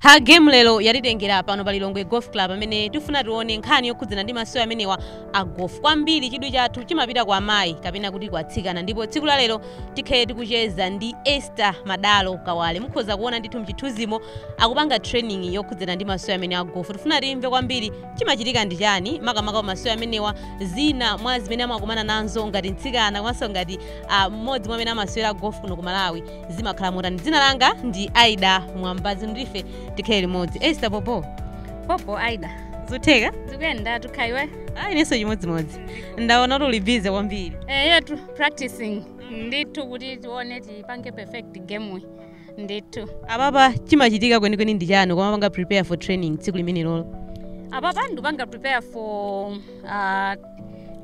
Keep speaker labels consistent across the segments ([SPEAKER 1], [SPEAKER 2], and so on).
[SPEAKER 1] ha game lero yatitengera pano pa lilongwe golf club amene tifuna tione nkhani yokhudzana ndi masewero amenewa a golf kwambiri chidwi chathu chimapita kwa amayi kapena kuti kwa atsikana ndipo tsiku la lero tikhale tikucheza ndi Esther Madalo Kawale mukhoza kuona ndithu mchithunzimo akupanga training yokhudzana ndi masewero amene a golf tifuna timve kwambiri chimachitika ndi chani makamaka pa masewero amenewa zina mwa zimene amakumana nazo ngati mtsikana komanso ngati ah, mmodzi mwa amene amasewera golf kuno ku malawi zimakhala motani dzina langa ndi aida mwambazi ndife tikhale limodzi Esther popo popo aida zutheka zikuyenda tu kaya
[SPEAKER 2] iwe ayi inenso chimodzimodzi
[SPEAKER 1] ndaona kuti uli busy kwambiri eyetu
[SPEAKER 2] practicing ndithu kuti tione tipange perfect game ndithu apapa
[SPEAKER 1] chimachitika kwenikweni ndi chani kumapanga prepare for training tsiku limenelolo apapa
[SPEAKER 2] ndikupanga prepare for uh,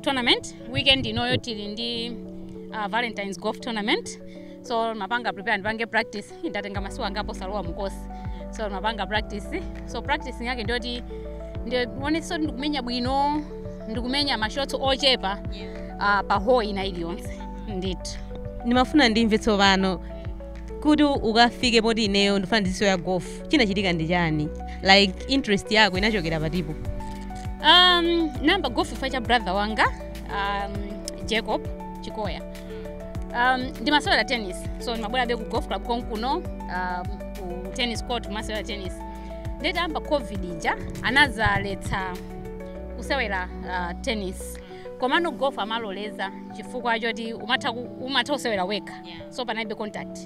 [SPEAKER 2] tournament weekend inoyo tili ndi uh, valentines golf tournament so ndimapanga prepare ndipange practice ndatenga masiku angapo osalowa mu course so ndimapanga practice so practice yake ndiyoti ndionetsetse ndikumenya bwino ndikumenya ma shots ochepa uh, pa hole ina iliyonse ndithu ndimafuna ndimve
[SPEAKER 1] tsopano kuti ukafike poti ineyo ndifuna ndizisewera golf chinachitika ndi chani like interest yako inachokera patipo um,
[SPEAKER 2] ndinayamba golf chifukwa cha brother wanga um, jacob chikoya um, ndimasewera tennis so ndimabwerabe ku golf club konkuno um, ku tennis court kumasewera tennis nde itayamba covid ija anazaletsa kusewera uh, tennis komano golf amaloleza chifukwa choti umatha ku- umatha kusewera wekha Yeah. so panalibe contact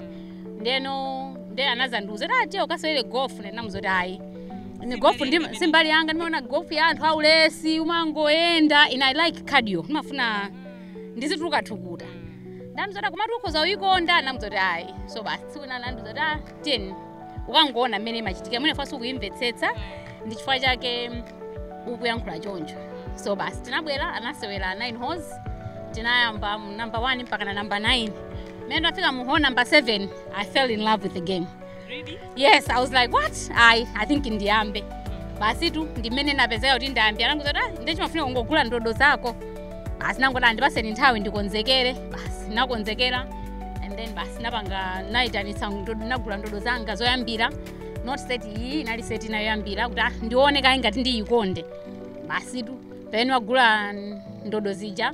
[SPEAKER 2] ndeno nde anazandiuza kuti ah tiye ukasewere golf ndinamuza kuti ayi ine golf si mbali yanga ndimaona golf ya anthu aulesi umangoyenda ine I like cardio ndimafuna ndizituluka thukuta nde anandiuza kuti komatu ukhoza kuyikonda ndamuza kuti ayi so basi tsiku lina anandiuza kuti ah tiye ukangoona mmene imachitikira mwina chifukwa sukuyimvetsetsa ndi chifukwa chake ukuyankhula choncho so basi tinabwera anasewera 9 holes tinayamba mu number 1 mpaka na number 9 mmene ndafika mu hole number 7 i fell in love with the game
[SPEAKER 1] yes i was
[SPEAKER 2] like what I i think ndiyambe basitu ndi mmene napezeka kuti ndayamba anangondiuza kuti ah nde chimafuna kungogula ndodo zako basi nangoti ah ndipatseni nthawi ndikonzekere basi nakonzekera and then basi napanga nayitanitsa ndodo nagula ndodo zanga zoyambira not set iyi inali set ina yoyambira kuti ah ndione kaye ngati ndiyikonde basitu pamene nagula ndodo zija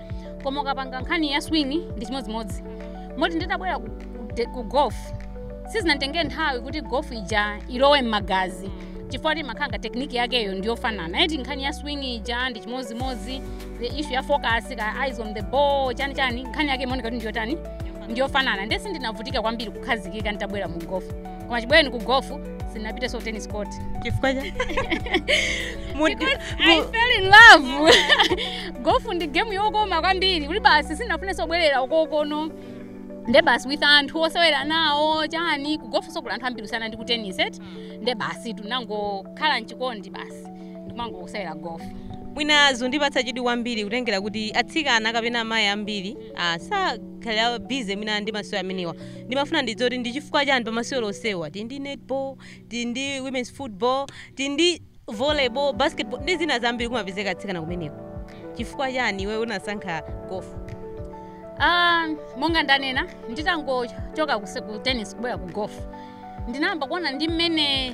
[SPEAKER 2] koma ukapanga nkhani ya swing ndi chimodzimodzi moti nditabwera ku, ku, de- ku golf sizinanditengere nthawi kuti golf ija ilowe m'magazi chifukwa imakhala ngati tekiniki yakeyo ndiyofanana eti nkhani ya swing ija ndi chimodzimodzi the issue ya focus ka eyes on the ball chani chani nkhani yake imaoneka kuti ndiyotani ndiyofanana nde sindinavutike kwambiri kukhazikika nditabwera mu golf koma chibwereni ku golf sindinapitenso ku tennis court chifukwa
[SPEAKER 1] cha Mu-
[SPEAKER 2] I mu- fell in love, golf ndi game yokoma kwambiri kuti basi sinafunenso kubwerera uko kuno nde basi uli ndi anthu osewera nawo chani ku golf nso kuli anthu ambiri kusiyana ndi ku tennis eti nde basi ndinangokhala mchikondi basi ndikumangosewera golf mwina zikundipatsa
[SPEAKER 1] chidwi kwambiri kutengera kuti atsikana kapena amayi ambiri ah, sakhala busy mwina ndi masewero amenewa ndimafuna ndidziwe kuti ndi chifukwa chani pa masewero onsewa, tili ndi netball tili ndi women's football tili ndi volleyball basketball ndi zina zambiri kumapezeka atsikana kumeneko chifukwa chani iwe unasankha golf
[SPEAKER 2] Ah, monga ndanena nditangochoka kuse- ku tennis kubwera ku golf ndinayamba kuona ndi mmene eh,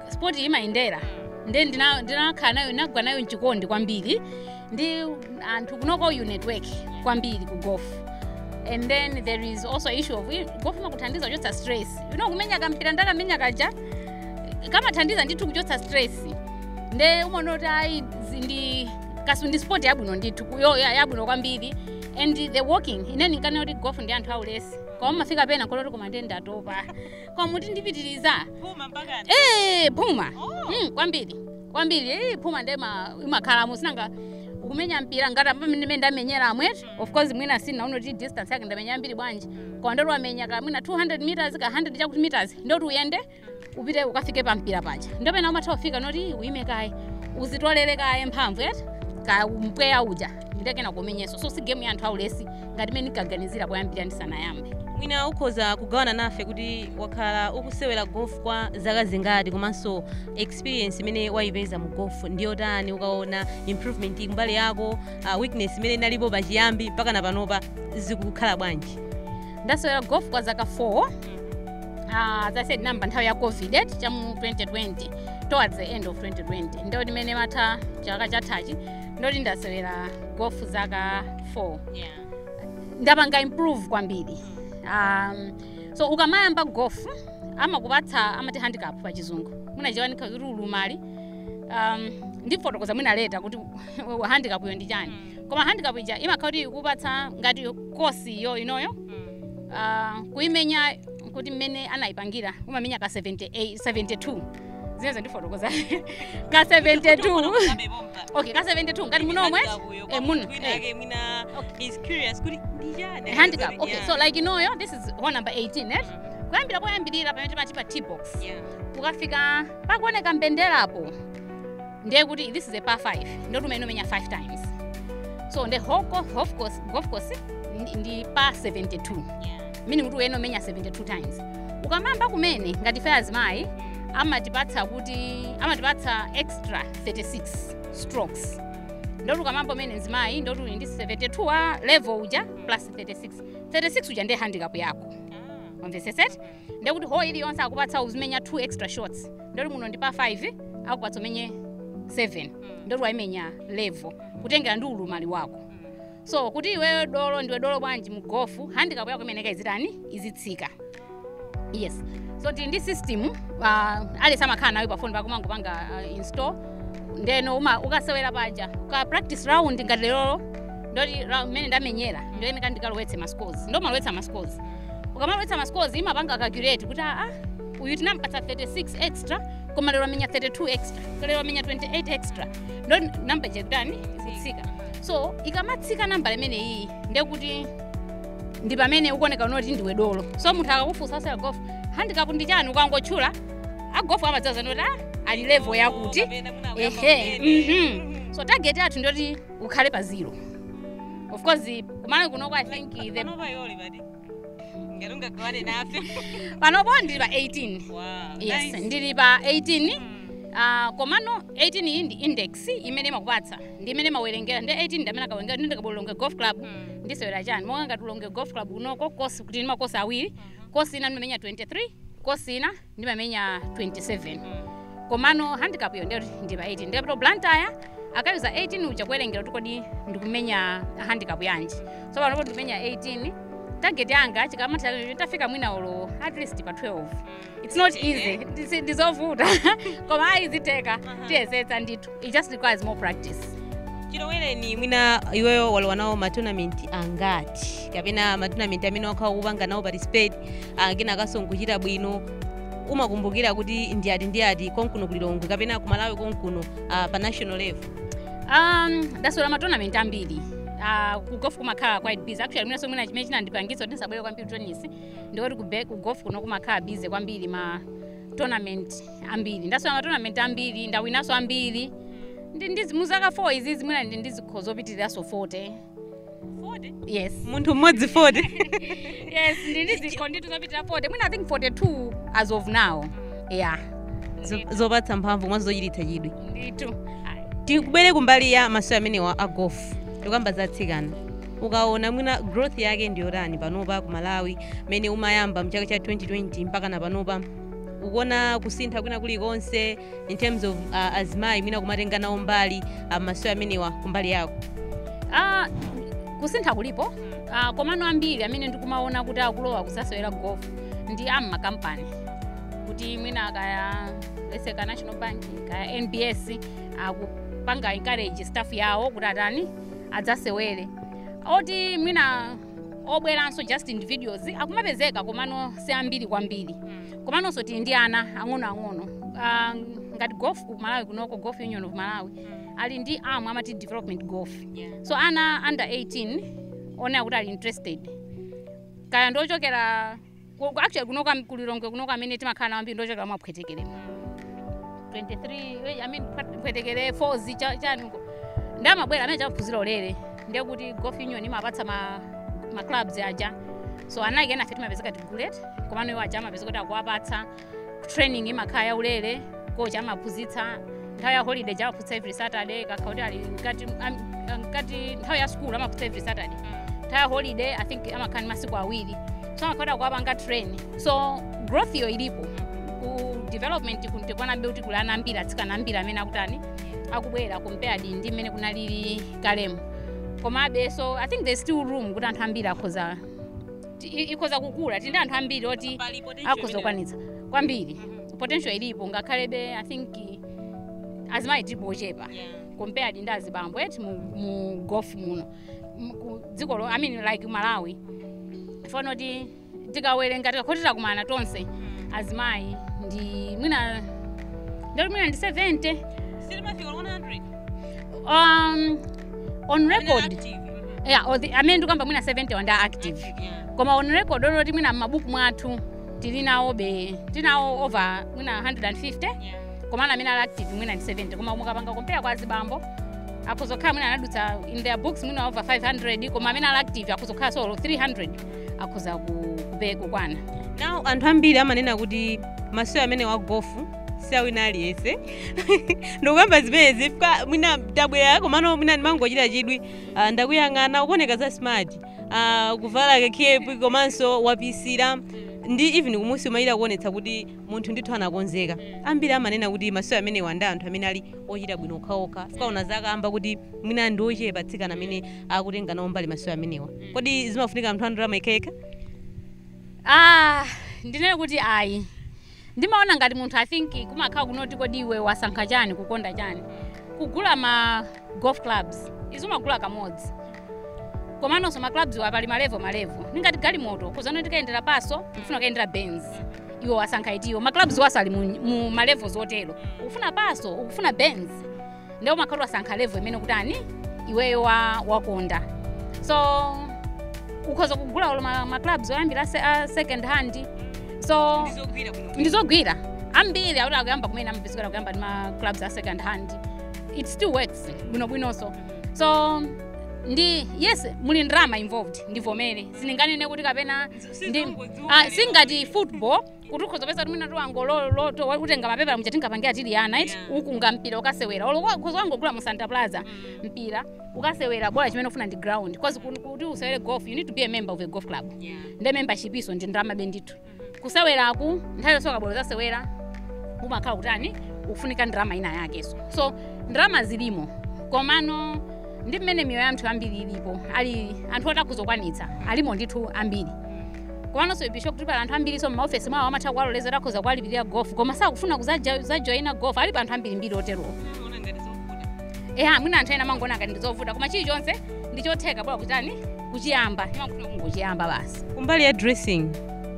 [SPEAKER 2] sport imayendera nde ndina- ndinakhala nayo ndinagwa nayo mchikondi kwambiri ndi anthu kunoko you network kwambiri ku golf and then there is also issue of golf imakuthandiza kuchotsa stress you know kumenya kampira nde kumenya kaja kamathandiza ndithu kuchotsa stress nde umaona kuti ayi zi- ndi kasu ndi sport yabwino ndithu ku- yo- ya- yabwino kwambiri and the walking ine ndinkaona kuti golf ndi ya anthu aulesi koma umafika pena pokhala kuti koma ndiye ndatopa koma umati ndipitiriza Phuma mpaka
[SPEAKER 1] eh phuma
[SPEAKER 2] mm, kwambiri kwambiri eh, phuma nde ma- imakhalamo si nanga ukumenya mpira ngati pamene ndimene ndamenyeramu eti of course mwina siunaone kuti distance yake ndamenya yambiri bwanji koma nde kuti wamenya ka mwina 200 meters ka 100 chakuti meters nde kuti uyende upite ukafike pa mpira paja nde pena umatha kufika poti uyime kaye uzitolere kaye mphamvu eti ka mpweya uja nde kenako umenyenso so si game ya anthu aulesi ngati mene ndinkaganizira kuyambira ndisanayambe mwina ukhoza
[SPEAKER 1] kugawana nafe kuti wakhala ukusewera golf kwa zaka zingati komanso experience imene wayipeza mu golf ndi yotani ukaona improvement kumbali yako uh, weakness imene inalipo pachiyambi mpakana panopa zikukhala bwanji ndasewera golf
[SPEAKER 2] kwa zaka 4 Ah, as i said ndinayamba nthawi ya covid eti cha mu 2020 towards the end of 2020 nde kuti mmene chimatha chaka chathachi nde kuti ndasewera golf zaka 4 yeah. ndapanga improve kwambiri um, so ukamayamba golf amakupatsa amati handicap pa chizungu mu Chichewa ndikhoza kuti ulumali um, ndifotokoza mwina later kuti handicap iyo ndi chani koma handicap ija imakhala kuti ikupatsa ngati kosi iyo inoyo uh, kuimenya kuti mmene anayipangira umamenya ka 72 zimene zandifotokoza ka 72 okay ka 72 ngati munomwe eh,
[SPEAKER 1] muno eh. A handicap okay so like
[SPEAKER 2] inoyi this is hole number 18 eh? kuyambira poyambirira pamene timati pa tee-box kukafika pakuoneka mbenderapo ndiye kuti this is a par 5 ndiye uyenera umenye 5 times so the whole golf course, golf course ndi, ndi par 72 meaning kuti uyenera umenye 72 times ukamayamba kumene ngati ife azimayi amatipatsa kuti amatipatsa extra 36 strokes ndoti ukamayamba kumene mzimayi ndoti uli ndi 72 wa level uja plus 36 36 uja ndiye handicap yako umvetsetse ndekuti hole iliyonse akupatsa uzimenya 2 extra shots ndoti muno ndi par 5 akupatsa umenye 7 ndoti wayimenya level kutengera ndi ulumali wako so kuti iweyo dolo ndiwe dolo bwanji mu golf handicap yako imayenera izitani izitsika yes so tili ndi system uh, aliyense amakhala nayo pafoni pako umangopanga uh, install ndeno uma ukasewera paja uka practice round ngati lerolo ndoti ra- mmene ndamenyera ndoyeneka ndikalowetse ma scores ndomalowetsa ma scores ukamalowetsa ma scores imapanga calculate kuti ah ah, uyu tinampatsa 36 extra koma lero amenya 32 extra lero amenya 28 extra ndo namba ija ikutani izitsika so ikamatsika nambala imeneyiyi ndiye kuti ndi pamene ukuoneka kunoko kuti ndiwe dolo so munthu akakufunsa zasewera golf handicap ndi chani ukangotchula a golf amadziwa zoti ah, ali level yakuti ehe mhm. so target yathu ndiyoti ukhale pa zero of course kumalawi kunoko i think the ngati ungagawane nafe panopo ndili pa 18 wow, yes nice. ndili pa 18 Uh, komano 18 iyi ndi index imene imakupatsa ndi imene amawerengera ndi 18 ndi amene akawerengera ndi ndikabwera ku Lilongwe golf club Mm. ndisewera chani monga ngati Lilongwe golf club kunoko because kuti tili ndi makosi awiri kosi ina ndimamenya 23 kosi ina ndimamenya 27 komano handicap yo ndiyoti ndi pa 18 ndikapita ku Blantyre akayuza 18 uja kuwerengera kuti kodi ndikumenya handicap yanji so panopo ndikumenya 18 target yanga chikamatha ndidzafike mwina olo at least pa 12 it's not easy Ndisi- ndizovuta koma ayi zitheka tiyesetsa ndithu it just requires more practice
[SPEAKER 1] chilowereni mwina iweyo walowa nawo matournament angati kapena matournament amene wakhala kupanga nawo participate ah, kenakanso n'kuchita bwino umakumbukira kuti ndi ati ndi ati konkuno ku Lilongwe kapena ku Malawi konkuno ah, pa national level
[SPEAKER 2] um ndasewera matournament ambiri Uh, ku golf kumakhala quite busy actually mwinanso mwina chimene chinandipangitsa kuti ndisabwere kwambiri tennis ndikuti ku be- ku golf kuno kumakhala busy kwambiri ma tournament ambiri ndasewera matournament ambiri ndawinaso ambiri ndi ndi mu zaka 4 izi mwina ndili ndi zikho zopitiriranso 40 yes munthu mmodzi
[SPEAKER 1] 40 yes
[SPEAKER 2] ndili ndi zikho ndithu zopitirira 40 mwina i think 42 as of now yeah
[SPEAKER 1] Zo- zopatsa mphamvu komanso zochititsa chidwi ndithu
[SPEAKER 2] tikubwera
[SPEAKER 1] kumbali ya masewero amenewa a golf tikukamba za atsikana ukaona mwina growth yake ndiyotani panopa ku malawi mene umayamba mchaka cha 2020 mpaka na panopa ukuona kusintha kwina kulikonse in terms of uh, azimayi mwina kumatenga nawo mbali mmasewero amenewa kumbali yako Ah,
[SPEAKER 2] kusintha kulipo Ah, komano ambiri amene ndikumaona kuti akulowa kudzasewera golf ndi a mmakampani kuti mwina kaya let's say ka national bank kaya nbs akupanga encourage staff yawo kuti atani adzasewere oti mwina obweranso just individuals akumapezeka komano si ambiri kwambiri komanonso tili ndi ana ang'onoang'ono Ah, ngati golf ku malawi kunoko golf union of malawi ali ndi am amati development golf so ana under 18 olo kuti ali interested kaya ndiochokera Ku- ku- actually kunoko ku lilongwe kunoko amene timakhala nawo ambiri ndochokera mwa phwetekere 23 eh, I mean, phwe- phwetekere 4 zi cha- chanuko ndi amabwera amene aja amaphunzira ulere ndiye kuti golf union imawapatsa ma, ma clubs aja so anthu enafe timapezeka tigule eti komano iwo aja amapezeka kuti akuwapatsa training imakhala yaulere kocha amaphunzitsa nthawi ya holiday amaphunzitsa every saturday ikakhala kuti ali mkati am- mkati nthawi ya school amaphunzitsa every saturday nthawi ya holiday i think amakhala ndi masiku awiri so amakhala kuti akuwapanga train so growth iyo ilipo ku development kukuonekabe kuti kuli ana ambiri atsikana ambiri amene akutani akubwera compared ndi mmene kunalili kalemo komabe so i think there's still room kuti anthu ambiri akhoza ti- i- ikhoza kukula tili ndi anthu ambiri oti akhoza kukwanitsa kwambiri potential ilipo ngakhalebe i think azimayi tilipo ochepa compared ndi azibambo eti mu, mu golf muno Mu- ku dziko lo i mean like malawi chifukwa kuti tikawerenga tikakhala kuti takumana tonse azimayi ndi mwina ndati mwina
[SPEAKER 1] ndi 70
[SPEAKER 2] um, on record yeah, or the- amene ndikamba mwina 70 ndi a active koma on record oti mwina m'mabuku mwathu tili nawobe tinawo over mwina 150 komano amene ali active mwina ndi 70 koma mukapanga compare kwa azibambo akhoza kukhala mwina anadutsa in their books mwina over 500 koma amene ali active akhoza kukhala olo 300 akhoza ku- kupe- kukwana now anthu
[SPEAKER 1] ambiri amanena kuti masewero amenewa a golf siawina aliyense ndikukamba zimenezi chifukwa mwina tabwera komano mwina ndimangochita chidwi Ah, ndakuyang'ana ukuoneka za smart Ah, kuvala kekepi komanso wapisira ndi even kumusi umayira kuonetsa kuti munthu ndithu anakonzeka ambiri amanena kuti masewero amenewa ndi a anthu amene ali ochita bwino okhaokha tikaona wakamba kuti mwina ndi ochepa atsikana amene akutenga nawo mbali masewero amenewa kodi zimafunika anthu andalama okhaokha ah
[SPEAKER 2] ndinene kuti ayi ndimaona ngati munthu i think kumakhala kungoti kodi iwe wasankha chani kukonda chani kugula ma golf clubs zija umagula kamodzi komanonso ma clubs wa pali malevo malevo ndingati galimoto ukuzanena uti ukayendera Passo ukufuna ukayendera Benz iwe wasankha itiyo ma clubs waso ali mu, mu malevels otero ukufuna Passo ukufuna Benz nde umakhala wasankha level imene kutani iweyo wa, wakonda so ukhoza kugula olo ma, ma clubs oyambira se, a second hand so ndizogwira kuno ndizogwira ambiri oti akuyamba kumene amapezeka akuyamba ndi ma clubs a second hand it still works bwinobwinonso so ndi yes muli ndrama involved ndivomere sindinganene kuti kapena ndi ah, singati football kuti ukhoza kupeza timina tiwango lo- loto kutenga mapepala muja tingapangira tili ana eti Yeah. ukunga mpira ukasewera olo ukhoza wangogula mu Santa Plaza mpira ukasewera bola chimene ufuna ndi ground cause kun- kuti usewere golf you need to be a member of a golf club nde membership yonso ndi ndalama bendithu kuseweraku nthawi yonse ukabwera kuzasewera umakhala kutani ukufunika ndalama ina yakeso so ndalama zilimo komano ndi mmene miyoyo ya anthu ambiri ilili alipo anthu oti akuzokwanitsa alimo ndithu ambiri komanso I'm sure kuti pali anthu ambiriso m'maofesi mwawo amatha kuwaloleza akhoza kuwalipirira gofu koma sakufuna kuzaja- kuzajoyina gofu alipo anthu ambirimbiri oterowo eha mwina anthu ena amangoona ngati ndizovuta koma chilichonse ndichotheka bola kutani kuchiyamba imafuna kungochiyamba basi kumbali ya
[SPEAKER 1] dressing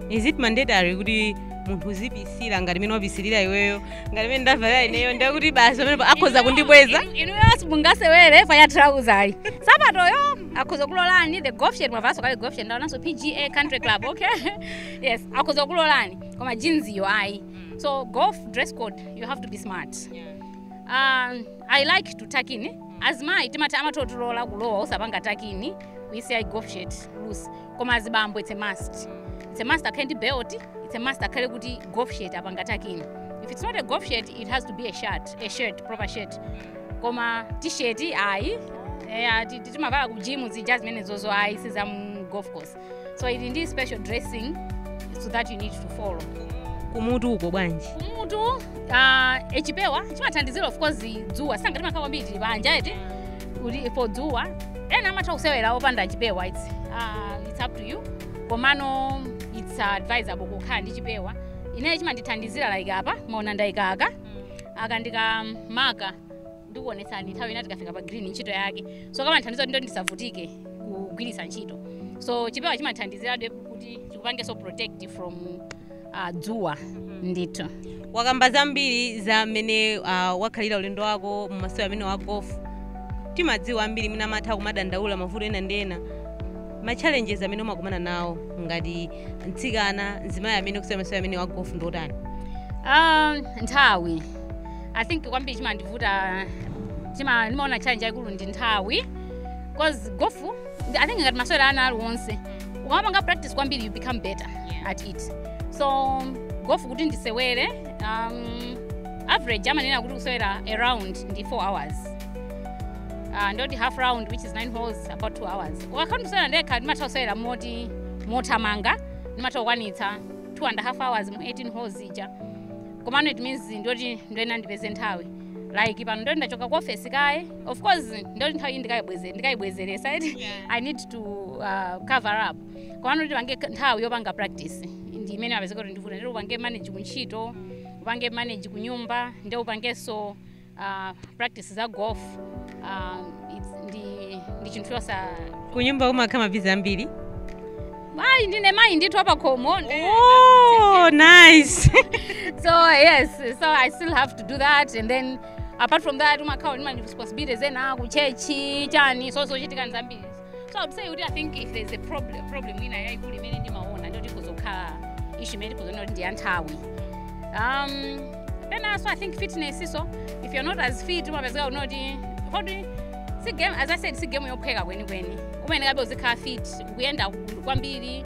[SPEAKER 1] is it mandatory kuti munthu uzipisira ngati mene wapisirira iweyo ngati mene ndavalira ineyo ndekuti basi pamenepo akhoza kundibweza inuyo simungasewere
[SPEAKER 2] pa ya trouser ayi sapatoyo akhoza kulolani the golf shirt mwavanso kale golf shirt ndaonanso pga country club okay yes akhoza kulolani koma jeans iyo ayi so golf dress code you have to be smart um, i like to tuck in azimayi timati amatotilola kulowa usapanga tuck in uisiya golf shirt loose koma azibambo it's a must it's a must akhale ndi belt it's a must akhale kuti golf shirt apanga tuck in if it's not a golf shirt it has to be a shirt a shirt proper shirt koma tisheti ayi eya ti- ti- timavala ku gym zija zimenezozo ayi si za mu golf course so ili ndi special dressing so that you need to follow kumutu uko
[SPEAKER 1] bwanji kumutu uh,
[SPEAKER 2] chipewa chimathandizira of course dzuwa cause timakhala kwambiri tili panja eti kuti for dzuwa ena amatha kusewera opanda chipewa its uh, its up to you komano its advisable kukhala ndi chipewa ineyo chimandithandizira like apa maona ndaikaka aka ndi ka marker ndikuonetsani nthawi ina tikafika pa green ntchito yake so kamandithandiza kuti ndisavutike kugwiritsa ntchito so chipewa chimandithandizirabe kuti chikupangenso protect from uh, dzuwa ndithu
[SPEAKER 1] wakamba zambiri za mmene uh, wakhalira ulendo wako mmasewero amenewa a golf timadziwa ambiri mwina amatha kumadandaula mavuto ena ndi ena ma challenges amene umakumana nawo ngati mtsikana mzimayi amene ukusewera masewero amenewa a gofu ndi otani
[SPEAKER 2] um,
[SPEAKER 1] nthawi i
[SPEAKER 2] think kwambiri chimandivuta chima ndimaona challenge yayikulu ndi nthawi because gofu i think ngati masewero ena aliwonse ukamapanga practice kwambiri you become better at it so gofu kuti ndisewere um, average amanena kuti kusewera a round ndi 4 hours uh, ndoti half round which is 9 holes about 2 hours ndikakhala ndikusewera ndekha ndimatha kusewera moti mothamanga ndimatha kukwanitsa 2 and a half hours mu 18 holes ija komano it means ndoti ndoyena ndipeze nthawi like pano ndoti ndachoka ku ofesi kaye of course ndoti nthawi iyi ndikayibweze- ndikayibwezeresa eti i need to uh, cover up komano kuti upange nthawi yopanga practice ndi imene imapezeka kuti ndiyovuta ndiye upange manage kuntchito upange manage kunyumba ndi upangenso uh, practice za golf um, it's- ndi, ndi chinthu chosa kunyumba
[SPEAKER 1] kumakhala mabize ambiri mayi
[SPEAKER 2] ndine mayi ndithu wapakhomo oh,
[SPEAKER 1] nice
[SPEAKER 2] so yes so i still have to do that and then apart from that umakhala ndi ma responsibilities ena kutchetchi chani so zochitika ndi zambiri so i would say kuti i think if there's a problem problem ina yayikulu imene ndimaona ndoti ikhoza kukhala ishu imene tikhoza kuona kuti ndi ya nthawi um, then also i think fitness so if you're not as fit umapezeka kuti kuti kodi si game as i said si game yophweka kwenikweni umayenekabe kuti uzikhala fit ukuyenda kwambiri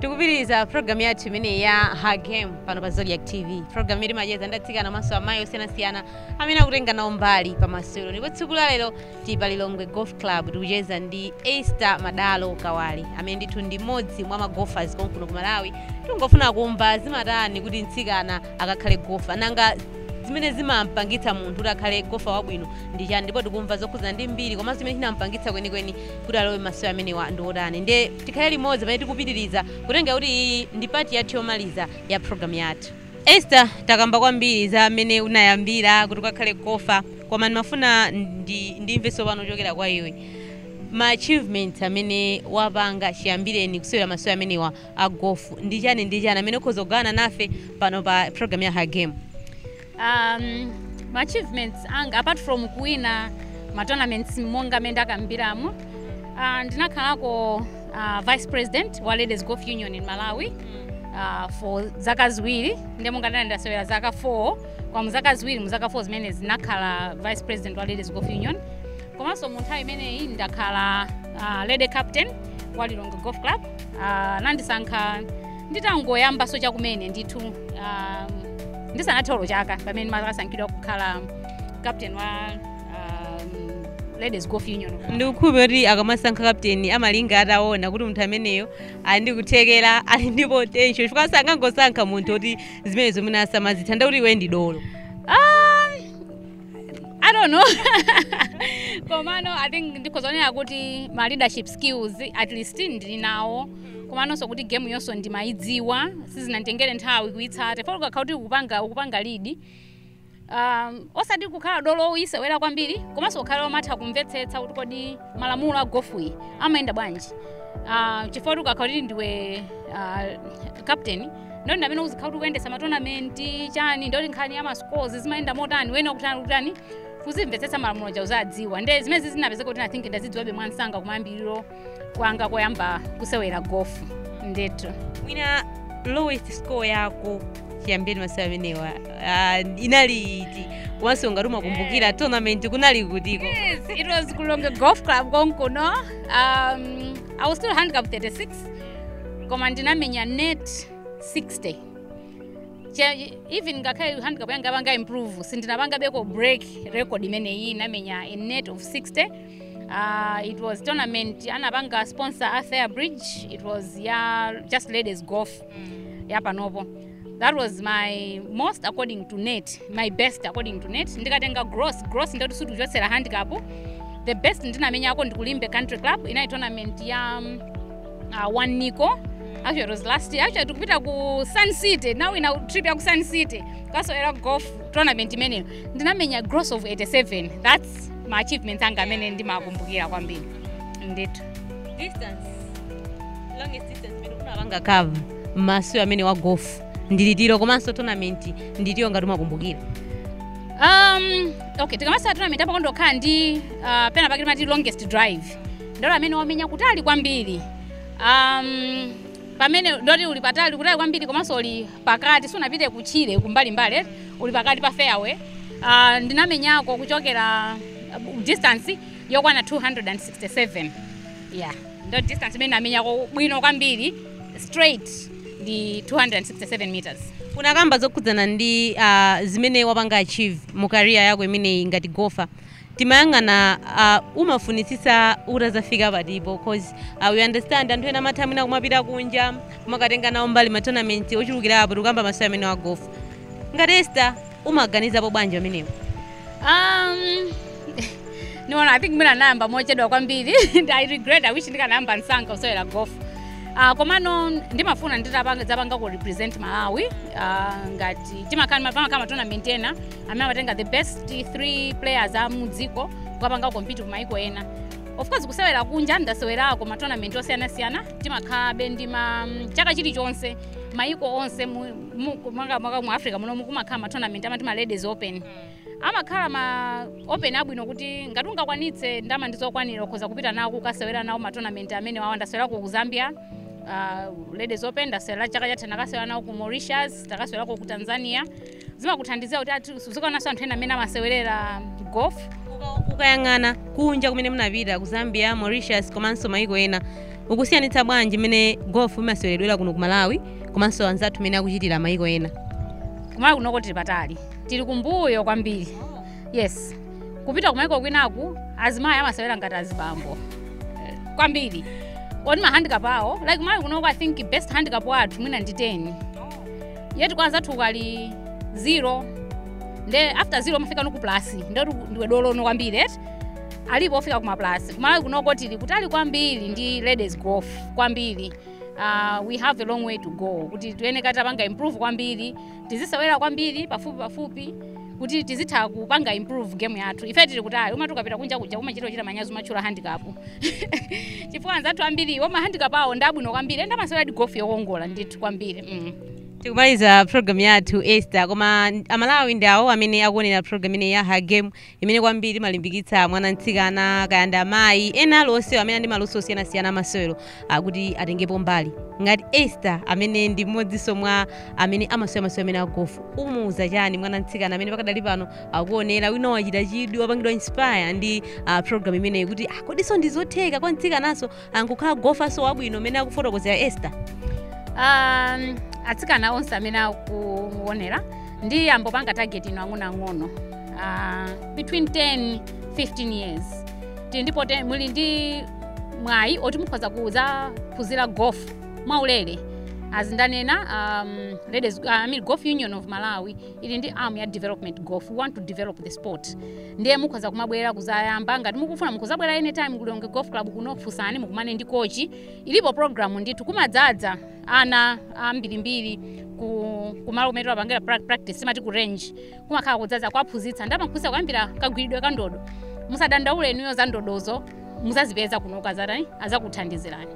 [SPEAKER 1] tikupitiriza program yathu imeneyi ya her game pano pa zodiak tv program imene timacheza ndi atsikana komanso amayi osiyanasiyana amene akutenga nawo mbali pa masewero ndipo tsiku la lero tili pa lilongwe golf club tikucheza ndi esther madalo kawale amene ndithu ndi mmodzi mwa magolfers konkuno ku malawi tingofuna kumva zimatani kuti mtsikana akakhale gofa nanga zimene zimampangitsa munthu kuti akhale gofa wabwino ndi chani ndipo tikumva zokhudzana ndi mbiri komanso zimene zinampangitsa kwenikweni kuti alowe m'masewero amenewa ndi otani ndiye Tikhale limodzi pamene tikupitiliza kutengera kuti iyi ndi part yathu yomaliza ya program yathu. Esther takamba kwambiri za mmene unayambira kuti ukakhale gofa koma ndimafuna ndimve tsopano kuchokera kwa iwe ma achievements amene wapanga chiyambireni kusewera masewero amenewa a gofu ndi chani ndi chani amene ukhoza kugawana nafe pano pa program ya Her Game.
[SPEAKER 2] um, ma achievements anga apart from kuwina ma tournaments monga amene ndakambiramo uh, ndinakhalako uh, vice president wa ladies golf union in malawi uh, for zaka ziwiri ndi monga ndinali ndasewera zaka 4 koma mu zaka ziwiri mu zaka 4 zimenezi ndinakhala vice president wa ladies golf union komanso mu nthawi imeneyi ndakhala uh, lady captain wa lilongwe golf club uh, anandisankha nditangoyambaso chakumene ndithu um, ndisanathe olo chaka pamene ndimakasankhidwa kukhala captain wa um, ladies golf union ndikukhulupirira
[SPEAKER 1] kuti akamasankha kapteni amalinga ataona kuti munthu ameneyo ali ndi kuthekera ali ndi potential chifukwa sangangosankha munthu kuti zimenezo mwina asamazitha nde kuti iwe ndi dolo
[SPEAKER 2] I don't know. Komano I think ndikuzionera kuti ma leadership skills at least ndili nawo. Komanonso kuti game yonso ndimaidziwa sizinanditengere nthawi kuitsata. Chifukwa ukakhala kuti ukupanga ukupanga lead. Um, osati kukhala dolo woyisewera kwambiri komanso kukhala womatha kumvetsetsa kuti kodi malamulo a gofuyi amayenda bwanji. Uh, chifukwa kuti ukakhala kuti ndiwe uh, captain ndiye kuti ndi amene uzikhala kuti kuyendesa matonamenti chani ndiye kuti nkhani ya mascores zimayenda motani wena kutani kutani kuzimvetsetsa malamulo aja uzadziwa nde zimene zinapezeka kuti I think ndazidziwabe mwansanga kumayambiriro kwanga koyamba kusewera gofu ndetu
[SPEAKER 1] mwina lowest score yako chiyambireni masewera amenewa ah, inali iti komanso ngati umakumbukira tournament kunali kutiko Yes, it was
[SPEAKER 2] Lilongwe Golf Club Konkuno. Um, I was still handicap 36 koma ndinamenya net 60 Che- even ngakhale handicap yanga yapanga improve sindinapangebeko break record imeneyi ndinamenya a net of 60 Uh, it was tournament anapanga sponsor a fair bridge it was ya just ladies golf yapanopo that was my most according to net my best according to net ndikatenga gross gross nde kuti sitikuchotsera handicap the best ndinamenyako ndi ku Limbe country club inali tournament ya um, uh, one nico actually it was last year actually tikupita ku sun city ndinawina trip ya ku sun city kukasewera golf tournament imeneyo ndinamenya gross of 87 that's ma achievements anga amene ndimakumbukira kwambiri ndithu distance
[SPEAKER 1] longest imene unapanga cover m'masewero amenewa a golf ndi itiyo komanso tournament ndi itiyo ngati umakumbukira
[SPEAKER 2] um, okay tikamasewera tournament apa kumakhala ndi uh, pena pake timati longest drive ndi dolo amene wamenya kutali kwambiri um, pamene nde kuti uli patali kutali kwambiri komanso uli pakati sunapite kutchire kumbalimbali eh? uli pakati pa fairway uh, ndinamenyako kuchokera uh, distance yokwana 267 yeah ndo distance imene ndinamenyako bwino kwambiri straight ndi 267 meters unakamba zokhudzana
[SPEAKER 1] ndi uh, zimene wapanga achieve mu career yako imeneyi ngati gofa tikamayang'ana uh, umafunitsitsa utazafika pati po cause uh, we understand anthu ena amatha mwina kumapita kunja kumakatenga nawo mbali matournament ochulukirapo tikukamba masewera amenewa a gofu ngati esta umawaganizapo bwanji pamenepo
[SPEAKER 2] Um, no I think mwina nayamba mochedwa kwambiri and I regret I wish ndikanayamba msanga kusewera golf Uh, komano ndimafuna nditapanga kurepresent malawi uh, ngati timakhala pamakhala matournament ena amene amatenga the best three players a mudziko kukapanga compete ku maiko ena of course kusewera kunja ndasewerako matournament osiyanasiyana timakhalabe ndi ma chaka chilichonse maiko onse mu, mu- ku- maka maka mu africa muno mukumakhala ma tournament amati ma ladies open amakhala ma open abwino kuti ngati ungakwanitse ndalama ndizokwanira ukhoza kupita nawo kukasewera nawo ma tournament amene wawa ndasewerako ku zambia uh, ladies open ndasewera chaka chatha ndakasewera nawo ku mauritius ndakasewera ku tanzania zimakuthandizira kuti ati uzikaonanso anthu ena mmene amasewerera golf Uka- ukayang'ana
[SPEAKER 1] kunja kumene munapita ku zambia mauritius komanso maiko ena ukusiyanitsa bwanji mmene golf imaseweredwera kuno ku malawi komanso anzathu mmene akuchitira mayiko ena kumalawi
[SPEAKER 2] kunoko tili patali tili kumbuyo kwambiri yes kupita kumayiko kwinaku azimayi amasewera ngati azibambo Eh, kwambiri ali ndi mahandicap awo like kumalawi kunoko i think best handicap wathu mwina ndi 10 yeti kwa anzathu kuli 0 nde after 0 umafikano ku plus nde ndiwe dolono kwambiri eti alipo ofika kuma plus kumalawi kunoko tili kutali kwambiri ndi ladies golf kwambiri uh, we have a long way to go kuti tiyenera kuti tipange improve kwambiri tizisewera kwambiri pafupi pafupi kuti tizitha kupanga improve game yathu ife tili kutali umati ukapita kunja kuja umachita kuchita manyazi kumatchula handicap chifukwa anzathu ambiri ma handicap awo ndi abwino kwambiri end amaseweradi golf yokongola ndithu kwambiri mm. tikumaliza
[SPEAKER 1] program yathu esther koma amalawi ndi awo amene akuonera program ineyi ya her game imene kwambiri imalimbikitsa mwana mtsikana kaya ndi amayi ena aliwonse amene ali ndi maluso osiyanasiyana amasewero kuti atengepo mbali ngati Esther amene ndi mmodzinso mwa amene amasewera masewero amenewa a golf umuuza chani mwana mtsikana amene pakadali pano akuonera wina wachita chidwi wapangidwa inspire ndi uh, program imeneyi kuti ah, kodiso ndizotheka kwa mtsikananso n'kukhala golferso wabwino mmene akufotokozera esther
[SPEAKER 2] um, atsikana onse amene akuonera ndiyambe kupanga target inu ang'onoang'ono uh, between 10 15 years tili ndi poten- muli ndi mwayi oti mukhoza kuzaphunzira golf mwaulere as ndanena um, ladies, uh, I mean, golf union of malawi ili ndi arm ya development golf we want to develop the sport ndiye mukhoza kumabwera kuzayamba ngati mukufuna mukhozabwera anytime ku lilongwe golf club kuno funsani mukumane ndi kochi ilipo program ndithu kumadzadza ana ambirimbiri ku kumalo kumene timapangira prac- practice timati ku range kumakhala kudzadza kwaphunzitsa n'kumawaphunzitsa kuyambira kagwiridwe ka ndodo musadandaule inuyo za ndodozo muzazipeza kuno akazatani azakuthandizirani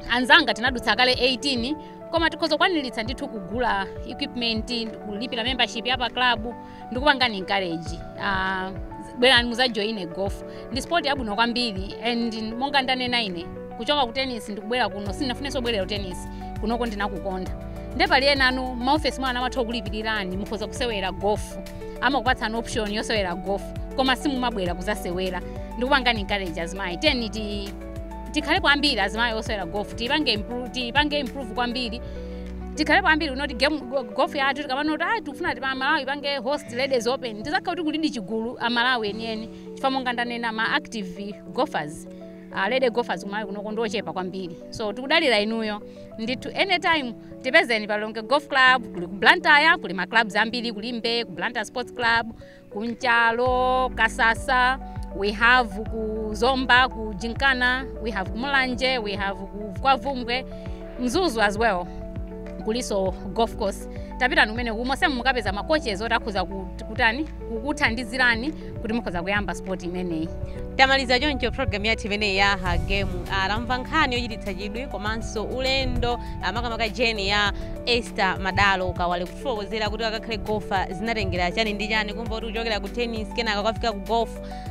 [SPEAKER 2] anzanga tinadutsa kale 18 koma tikhoza kukwaniritsa ndithu kugula equipment kulipira membership ya pa club ndikupangani encourage uh, bwerani muzajoine golf ndi sport yabwino kwambiri and monga ndanena ine kuchoka ku tennis ndikubwera kuno sinafunenso kubwerera ku tennis kunoko ndinakukonda nde pali enanu m'maofesi mwanu amatha kukulipirirani mukhoza kusewera golf amakupatsani option yosewera golf koma simumabwera kuzasewera ndikupangani encourage azimayi tiyeni ti tikhale kwambiri azimayi osewera golf tiipange improve kwambiri tikhale kwambiri kunoku game go- golf yathu tikamanena kuti ayi tikufuna kuti malawi ipange host ladies open tizakhala kuti kulidi chigulu amalawi enieni chifukwa monga ndanena ma active golfers uh, lady golfers kumalawi kunoko ndiochepa kwambiri so tikudalira inuyo ndithu anytime tipezeni pa lilongwe golf club kuli ku blantyre kuli ma clubs ambiri ku limbe ku blantyre sports club ku nchalo kasasa we have ku zomba ku gymkhana we have ku mulanje we have ku ku bvumbwe mzuzu as well kulinso golf course tapitani mmenemu monsemu mukapeza ma coaches oti akhoza kut- kutani kukuthandizirani kuti mukhoza kuyamba sport imeneyi tamaliza
[SPEAKER 1] choncho program yathu imeneyi ya her game atamva nkhani yochititsa chidwi komanso ulendo ah, makamaka journey ya esther madalo kawale fotokozera kuti akakhale golfer zinatengera chani ndi chani kumva kuti kuchokera ku tennis kenaka kukafika ku golf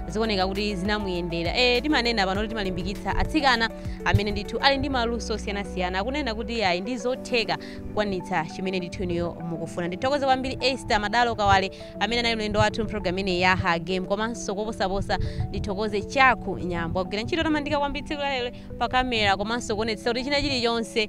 [SPEAKER 1] zikuoneka kuti zinamuyendera e, timanena pano kuti timalimbikitsa atsikana amene ndithu ali ndi maluso osiyanasiyana akunena kuti ayi ndi zotheka kukwanitsa chimene ndithu inuyo mukufuna ndithokoze kwambiri esther madalo kawale amene anali mlendo wathu mpulogalamu imeneyi ya her game komanso koposaposa ndithokoze chaku nyambo agwira ntchito yotamandika kwambiri tsiku lalero pa kamera komanso kuonetsetsa kuti china chilichonse